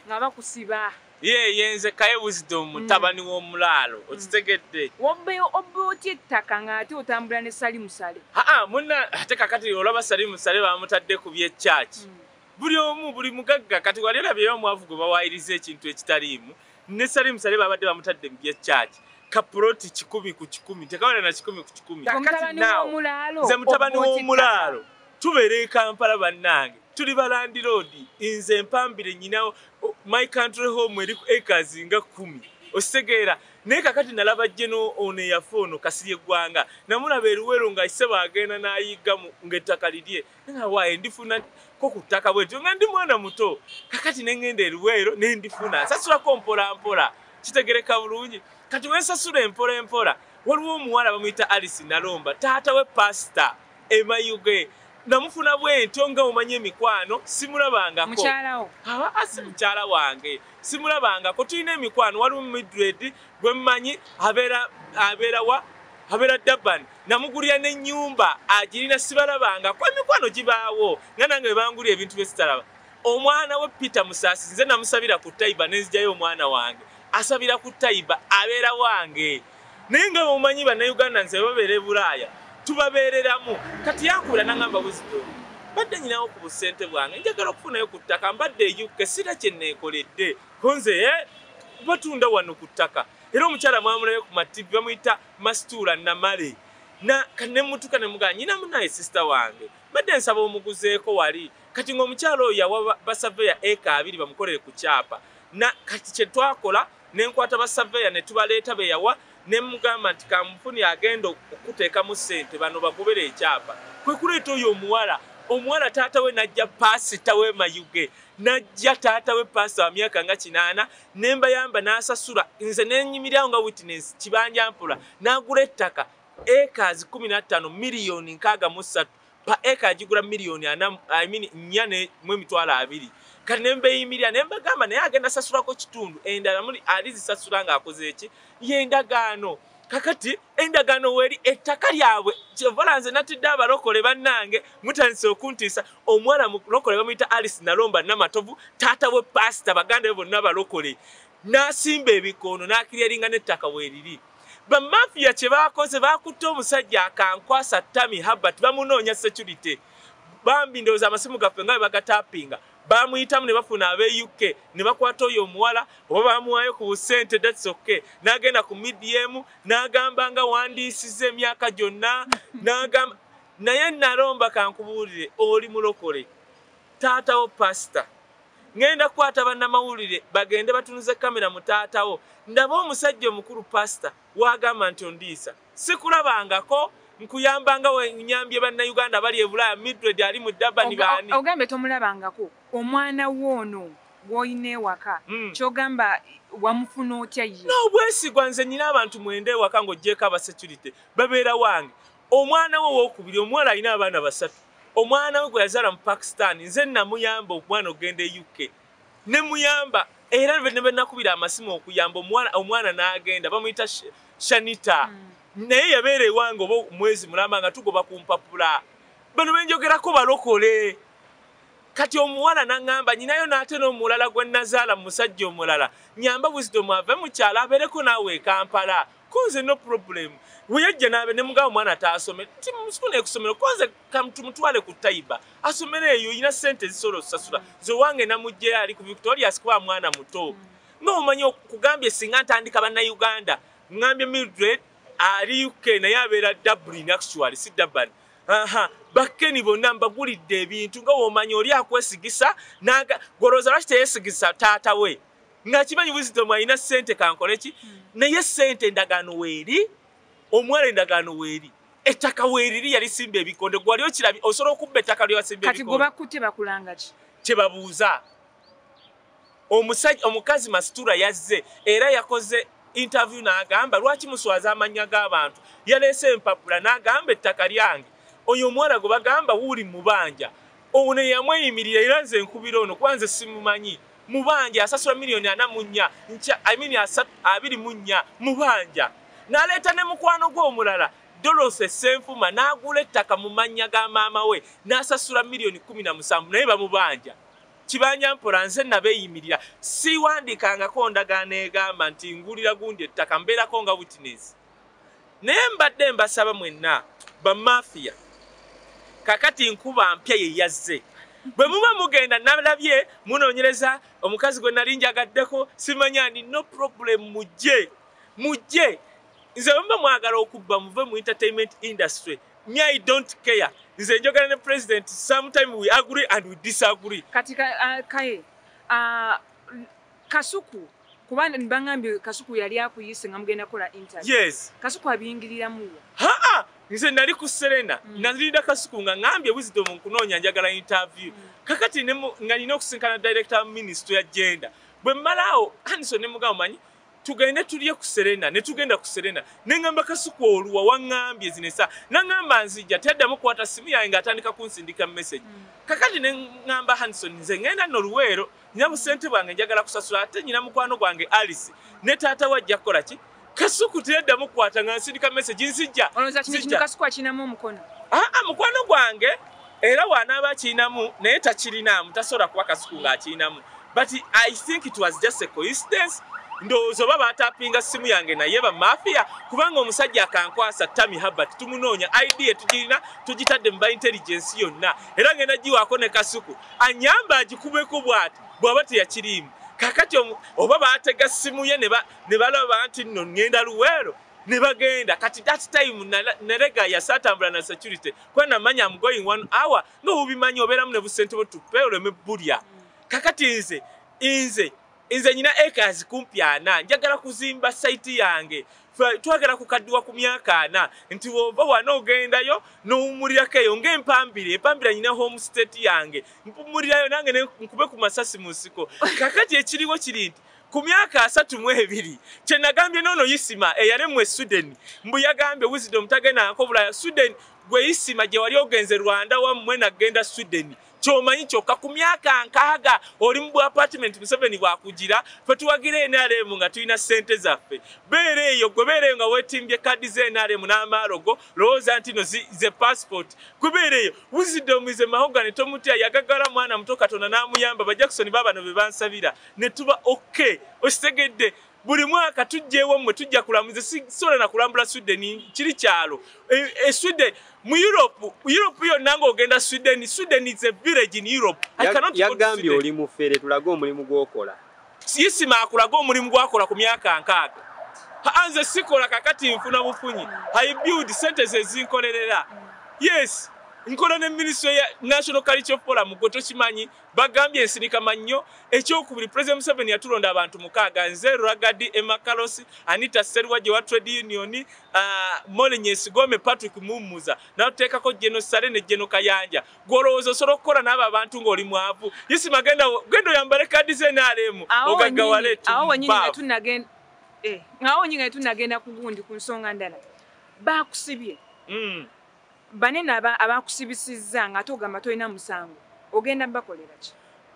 nga bakusiba ye yenze kaye wisdom mm. mutabani w'omulaalo mm. okitegedde wobbeyo obbe otya ettaka ng'ate otambula ne sali musale aa muna ate kakati olaba sali musale bamutadde ku byekyaki mm. buli omu buli mugagga kati wali olabyeyo omwavu gwe bawaayiriza ekintu ekitaliimu ne sali musale babadde bamutadde mu byekyaki kapuloti kikumi ku kikumi tekawera na kikumi ku kikumi kakati nawo nze mutabani w'omulaalo tubeera e kampala bannange tuli ba landiroodi nze mpambire nyina my country home eri acres nga kumi ositegeera naye kakati nalaba jeno ono eyafa ono kasiri eggwanga namulaba eruwero nga isebo agenda nayigga ngaettaka lirye nawaye ndifuna ko ku ttaka bwetyo nga ndi mwana muto kakati nengenda eruwero nendifuna nsasulako mpola mpola kitegereka bulungi kati wensasula empola empola waliwo omuwala bamuyita alice nalomba taata we pasita E Mayuge namufuna bwentyo nga omanyi emikwano simulabangako mukyala wo? Haa ah, si mukyala wange simulabangako tulina emikwano waliwo Mildred gwe mmanyi abeera abeera wa abeera Durban namugulira n'ennyumba agirina sibalabangako emikwano gibaawo nga nange bebangulira ebintu bye sitalaba omwana we Peter Musaasi nze namusabira ku Taiba ne nzijayo omwana wange asabira ku Taiba abeera wange naye nga bwemumanyi bannayuganda nze babeera ebulaaya tubabeereramu kati yankubira nangamba buzito mbadde nyinawo ku busente bwange njagala okufunayo ku ttaka mbadde eyukke sira kye neekoledde konze e eh, batunda wano ku ttaka era omukyala mwamulayo ku mativi bamuyita masituula namale kanemutuka nemugaa nyinamu naye sisita wange mbadde nsaba omuguzeeko wali kati ng'omukyala oyo yawa basaveya eka abiri bamukolere ku kyapa kati kyetwakola ne nkwata basaveya ne tubaleeta be yawa ne mugamba nti kampuni agenda okukuteekamu ssente bano bakubera ekyapa kwe kuleeta oyo omuwala omuwala taata we najja paasita we mayuge najja taata we paasita wa myaka nga kinaana ne mbayamba n'asasula nze nenyimiryawo nga witness kibanja mpola n'agula ettaka ekaazi kumi na ttaano miliyoni nkaaga mu ssatu pa eka agigula miliyoni ana I mean nnya ne mu emitwalo abiri kati ne mbeeyimirira ne mbagamba naye agenda sasulako kitundu endala muli alizisasula ng'akoze eki y'endagaano kakati endagaano weeri ettaka lyabwe kyevola nze natidde abalokole bannange mutandise okuntiisa omuwala mulokole bamuyita alice nalomba namatovu taata we paasita baganda be bonna balokole n'asimba ebikoono n'akiryalinga n'ettaka weeriri Bamafiya kye baakoze baakutte omusajja akankwasa Tami Herbert bamunoonya security. Bambi ndowooza amasimu gaffe nga bwe bagatapinga bamuyitamu ne bafuna abe UK ne bakwata oyo omuwala oba bamuwaayo ku busente that's okay n'agenda ku medium n'agamba nga wandiisiza emyaka gyonna n'agamba naye nalomba kankubuulire oli mulokole taatawo pasita Ngenda kwata banamawulire bagende batunuze kamera mu taata wo ndabe omusajja omukulu pastor wagamba nti ondiisa sikulabangako nkuyambanga wenyambye bannayuganda bali ebulaya midred ali mu dabani baani ogambe tomulabangako omwana woono gwolina ewaka hmm. kyogamba wamufuna otya ye nobwesigwa nze nyina abantu mwenda ewaka ngaogyeko abasecurity babeera wange Omwana we ow'okubiri, omuwala alina abaana basatu. Omwana we gwe yazaala mu Pakistan nze nnamuyamba omwana okugenda e UK ne muyamba era ne bwe nakubira amasimu okuyamba omwana n'agenda bamuyita Shanita hmm. naye yabeera ewange oba omwezi mulamba nga tugoba ku mpapula. Bano be njogerako balokole. kati omuwala naŋamba nyinayo naate nomulala gwe nazaala mumusajja omulala nyamba wisdom ave mukyalo abeereko naawe ekampala Konze no problem. Weyajja nabe ne mugabo mwana taasome. Timusukuna ekusomero konze kamtumutwale ku taiba. Asomere eyo ina sente zisoro sasura. Zo wange na mujje ali ku Victoria sikuwa mwana muto. No umanyo kugambye singa ntandika bana Uganda. Ngambye Mildred ali UK na yabera Dublin actually si Durban. Aha. Bakeni bonna mbagulidde ebintu nga womanyo oli akwesigisa naga goroza lwaki teyesigisa taata we. ngakimanyi wisdom alina sente kankole ki hmm. naye sente endagaano weeri omuwala endagaano weeri ettaka weeriri yalisimba ebikonde gwali okirabi osobola okubba ettaka lyewasimba kati gwebakutte bakulanga ki kyebabuuza omusajja omukazi masitura yazze era yakoze interview n'agamba lwaki muswaza amannya g'abantu yaleese empapula n'agamba ettaka lyange oyo omuwala gwe bagamba wuuli mubanja ono yamweyimirira era nze nkubira ono kuba nze simumanyi mubanja asasula milioni ana munya nca I mean asatu abiri munya mubanja naleta ne mukwano gwe omulala Dorothy Senfuma nagula ettaka mu mannya ga maama we nasasula milioni kumi na musanvu naye bamubanja kibanja mpola nze nabeyimirira siwandikangako ndagaano egamba nti ngulira gundi ettaka mbeerako nga witness naye mbadde mbasaba mwenna bamafiya kakati nkuba mpya yeyazze bwe muba mugenda nalabye munoonyereza omukazi gwe nali njagaddeko simanya ni no problem mujje mujje nze bwemuba mwagala okubba muve mu entertainment industry me i don't care nze njogera ne president sometime we agree and we disagree kati uh, kaye uh, kasuku Kuba bangambye Kasuku yali akuyise nga mugenda kola interview. Yes. Kasuku abingiriramu wa? Haa! Nze nali ku Serena. Mm. Nazirinda Kasuku nga ngambye wisdom nkunoonya njagala interview. Mm. Kakati ne nga nina okusinkana director ministry ya gender. Bwe malao Hanson ne mugao manyi tugende tulye ku Serena ne tugenda ku Serena. Ne ngamba Kasuku oluwa wangambye zinesa. Na ngamba nzija tedda mu kwata simu yange atandika kunsindika message. Mm. Kakati ne ngamba Hanson nze ngenda no luwero. Mm. Nina busente bwange njagala kusasula ate nyina mukwano gwange Alice ne taata wa ajja kukola ki kasuku tedda mukwata nga nsindika message nzijja olowooza kino kino kasuku akirinamu omukono aa ah, ah, mukwano gwange era wanaaba akirinamu naye takirinaamu tasobola kuba kasuku nga akirinamu but i think it was just a coincidence ndowooza oba baatapinga simu yange naye bamafiya kubanga omusajja akankwasa tami habert tumunoonya idea tugirina tugitadde mu ba intelligence yonna era ngenda giwaako ne kasuku anyamba agikubeko bwati bwaba teyakiriimu kakati oba batega simu ye ne balaba nti nno ŋŋenda luweero ne bagenda kati that time nerega yasa atambula na security kuba namanya am going one hour nga obubimanyi obeeramu ne busente bwe tupe oleme bulya kakati nze nze Nze nyina acres kumpi ana njagala kuzimba site yange twagala kukaddiwa ku myaka ana nti wova wana ogendayo nowumulirako eyo ngaempambire empambira nyina home state yange mpumulirayo nange nkube ku masasi mu nsiko kakati ekiriwo kiri nti ku myaka asatu mu ebiri kyenagambye noono yisima eyaremu e suden mbu yagambye wisdom tagendaako bulaya suden gwe yisima gye wali ogenze rwanda wammwe nagenda suden kyomanyi kyokka ku myaka nkaaga oli mu bwa apartment museveni bwakugira fe tuwagira nrm nga tulina ssente zaffe beera eyo gwe beera eyo nga wetimbye kaddi za nrm n'amaalogo lowooza nti no ze passport gwe beera eyo wisdom is a mahogany tomutya yagagala mwana muto katonda n'amuyamba bajakisoni baabano be bansabira ne tuba ok okitegedde buli mwaka tujja ewammwe tujja kulamuza sisobola na kulambula sweden kiri kyalo e, e sweden mu europe europe yonna ngaogenda sweden sweden is a village in europe yagambye oli mufere tulage omulimu gwokola sisima akulaga omulimu gwakola ku myaka nkaaga anze sikola kakati nfuna bufunyi i build sentence ezinkolerera yes nkola ne ministry ya national culture forum gwe tokimanyi Bagambye ensinika mannyo ekyokubiri President Museveni yatulonda abantu mukaaga nze Ragadi Emma Carlos Anita Seruwaje wa Trade Union uh, Molly Nyesigome Patrick Mumuza natuteekako Jeno Sale ne Jeno Kayanja gwolowooza osobola okukola n'abo abantu ng'oli mwavu yisima genda genda oyambale kaadi ze NRM ogaggawale awo wenyini nga tunagenda eh, awo wenyini nga tunagenda ku gundi ku nsonga ndala bakusibye mm. Banene abakusibisizza ng'ate ogamba tolina musango ogenda bakolera ki?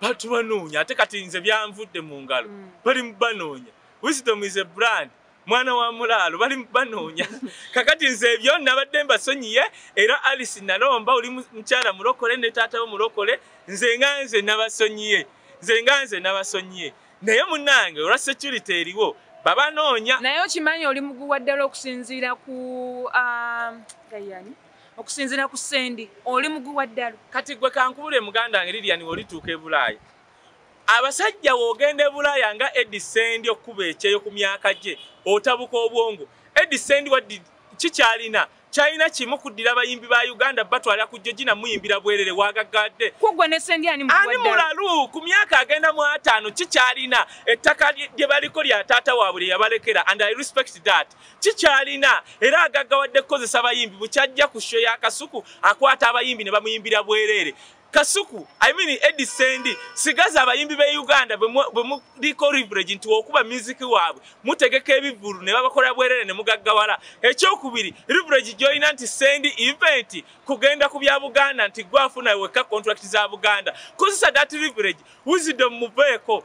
Bantu banoonya ate kati nze byanvudde mu ngalo mm. bali mu banoonya. Wisdom is a brand. mwana wa mulaalo bali banoonya kakati nze ebyo nabadde mbasonyiye era alice nalomba oli mukyala mulokole ne taata wo mulokole nze nga nze nabasonyiye nze nga nze nabasonyiye naye munange olwa security eriwo baba noonya naye okimanyi oli muguwa ddala okusinziira ku um, gayani okusinziira ku sendi oli muguwa ddala kati gwe kankubula emuganda wange lilian olituuka ebulaaya abasajja wogenda ebulaaya nga edi sendi okukuba ekyeyo ku myaka gye otabuka obwongo edi sendi wadi kikyalina China kimu kuddira bayimbi ba Uganda batwala ku Georgina muyimbira bwerere wagaggadde. Kugwe ne sendi ani mwadda. Ani mulalu ku myaka agenda mu atano kikyalina ettaka lye baliko lya taata waabwe lye yabalekera and I respect that. Kikyalina era agaggawadde kukozesa bayimbi bukyajja ku show ya kasuku akwata abayimbi ne bamuyimbira bwerere. Kasuku, I mean Eddie Sendi, sigaza abayimbi be Uganda bwe muliko leverage nti okuba music waabwe mutegeka ebivulu ne babakola bwerere ne mugaggawala. Ekyokubiri, leverage joina nti Sendi event kugenda ku bya Buganda nti gwafuna weka contract za Buganda. Kozesa that leverage, wisdom muveeko.